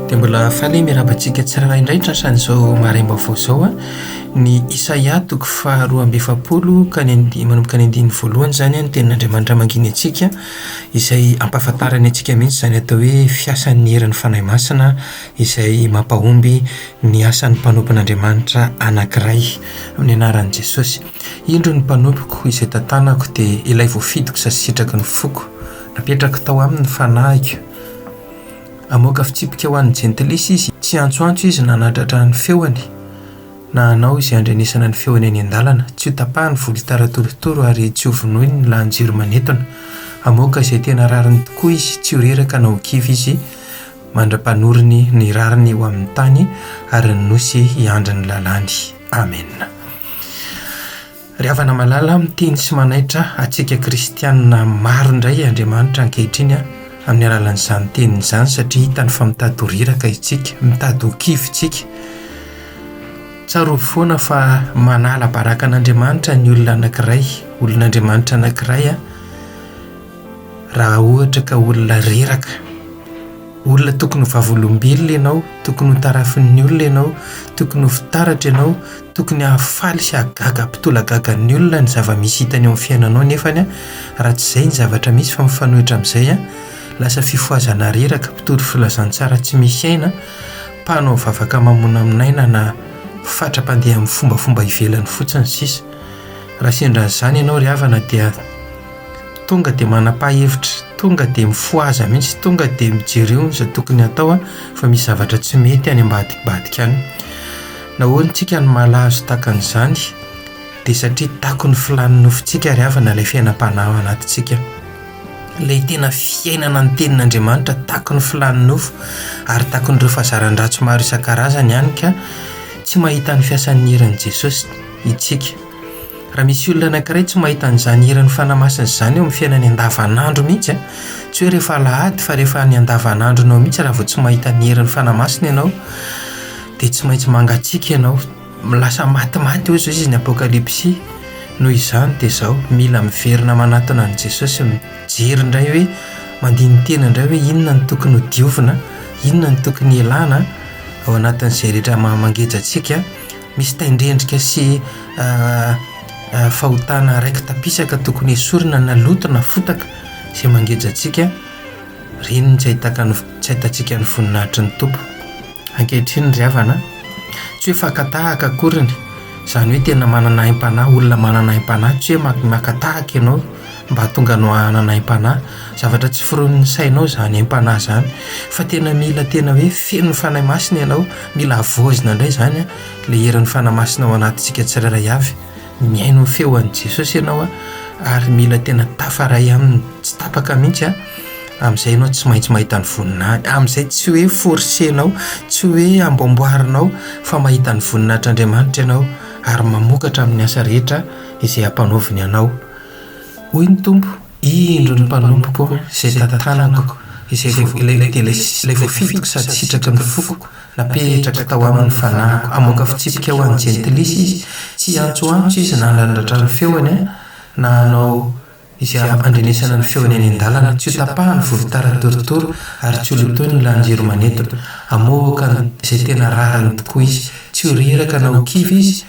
dia mbola fale miaraba antsika tsirara indray ntrasan'izao marem-baovao izao a ny isaia toko faharoa amby efapolo ka ny nd manomboka ny andininy voalohany izany a ny tenin'andriamanitra manginy antsika izay ampahafantarany antsika mihitsy izany atao hoe fiasan'ny heran'ny fanahy masina izay mampahomby ny asan'ny mpanompon'Andriamanitra anankiray amin'ny anaran'i Jesosy. Indro ny mpanompoko izay tantanako dia ilay voafidiko sady sitraky ny foko. Napetrako tao aminy ny fanahiko. Hamoaka fitsipika ho an'ny jentilisa izy. Tsy hiantsoantso izy na hanadratra ny feony, na hanao izay handrenesana ny feony eny an-dalana. Tsy hotapahiny volotara torotoro ary tsy hovonoiny ny lahan-jiro manetona. Hamoaka izay tena rariny tokoa izy, tsy ho reraka na ho kivy izy. mandra-panoriny ny rariny eo amin'ny tany ary ny nosy hiandry ny lalàny. Amena. Ry havana malala, miteny sy manaitra antsika kristiana maro indray Andriamanitra ankehitriny amin'ny alalan'izany teniny izany satria hitany fa mitady ho reraka isika, mitady ho kivy isika. Tsarovy foana fa manala baraka an'Andriamanitra ny olona anankiray, olon'Andriamanitra anankiray. Raha ohatra ka olona reraka, olona tokony ho vavolombelona ianao, tokony ho tarafin'ny olona ianao, tokony ho fitaratra ianao, tokony hahafaly sy hahagaga hampitolagagan'ny olona ny zava-misy hitany ao amin'ny fiainanao nefa raha tsy izay ny zavatra misy fa mifanohitra amin'izay, lasa fifohazana reraka, mpitory filazantsara tsy misy aina, mpanao vavaka mamonamonaina na fatra mpandeha amin'ny fombafomba ivelany fotsiny sisa. Raha sendra an'izany ianao ry havana dia. Tonga dia manam-pahefitra, tonga dia mifohaza mihitsy, tonga dia mijereo izay tokony hatao fa misy zavatra tsy mety any ambadik'badika any. Nahoana isika no malazo tahaka an'izany? Dia satria takon'ny filàn'ny nofontsika ary havana ilay fiainam-panahy ao anatintsika. Ilay tena fiainana ny Tenin'Andriamanitra takon'ny filàn'ny nofo ary takon'ireo fahazaran-dratsy maro isan-karazany ihany ka tsy mahita ny fiasan'ny herin'i Jesosy isika. Raha misy olona anankiray tsy mahita an'izany hiran'ny Fanahy Masina izany eo amin'ny fiainany andavanandro mihitsy an, tsy hoe rehefa alahady fa rehefa any andavanandronao mihitsy raha vao tsy mahita ny herin'ny Fanahy Masina ianao dia tsy maintsy mangatsiaka ianao, lasa matimaty hoy izao izy ny Apokalypsy, noho izany dia izao, mila miverina manatona an'i Jesosy sy mijery indray hoe, mandini-tena indray hoe inona no tokony ho diovina, inona no tokony hialana ao anatin'izay rehetra maha-mangeja antsika. Misy tain-drendrika sy fahotana raiki-tapisaka tokony hesorina na loto na fotaka izay mangeja antsika, ireny no tsy ahitan-, tsy ahitantsika ny voninahitry ny Tompo. Ankehitriny ry havana a, tsy hoe faka tahaka akoriny, izany hoe tena manana aim-panahy, olona manana aim-panahy, tsy hoe maka tahaka ianao, Mba tonga nohanana aim-panahy. Zavatra tsy foronin'ny sainao izany aim-panahy izany fa tena mila tena hoe feno Fanahy Masina ianao. Mila havaozina indray izany ilay herin'ny Fanahy Masina ao anatintsika tsirairay avy. Mihaino ny feon'i Jesosy ianao ary mila tena tafaray aminy tsy tapaka mihitsy. Amin'izay ianao tsy maintsy mahita ny voninahiny. Amin'izay tsy hoe forsenao, tsy hoe amboamboarinao fa mahita ny voninahitr'Andriamanitra ianao ary mamokatra amin'ny asa rehetra izay ampanaoviny anao. Hoy ny Tompo, Indro ny mpanompoko izay tantanako, izay voa, ilay, ilay voafidiko sady sitraky ny foko, napetrako tao aminy ny fanahiko, hamoaka fitsipika ho an'ny jentilisa izy, tsy hiantsoantso izy na handrandratra ny feony, na hanao izay handrenesana ny feony any an-dalana, tsy hotapahany volotara torotoro, ary tsy holotoiny ny lanin-jiro manetona, hamoaka izay tena rariny tokoa izy, tsy ho reraka na ho kivy izy,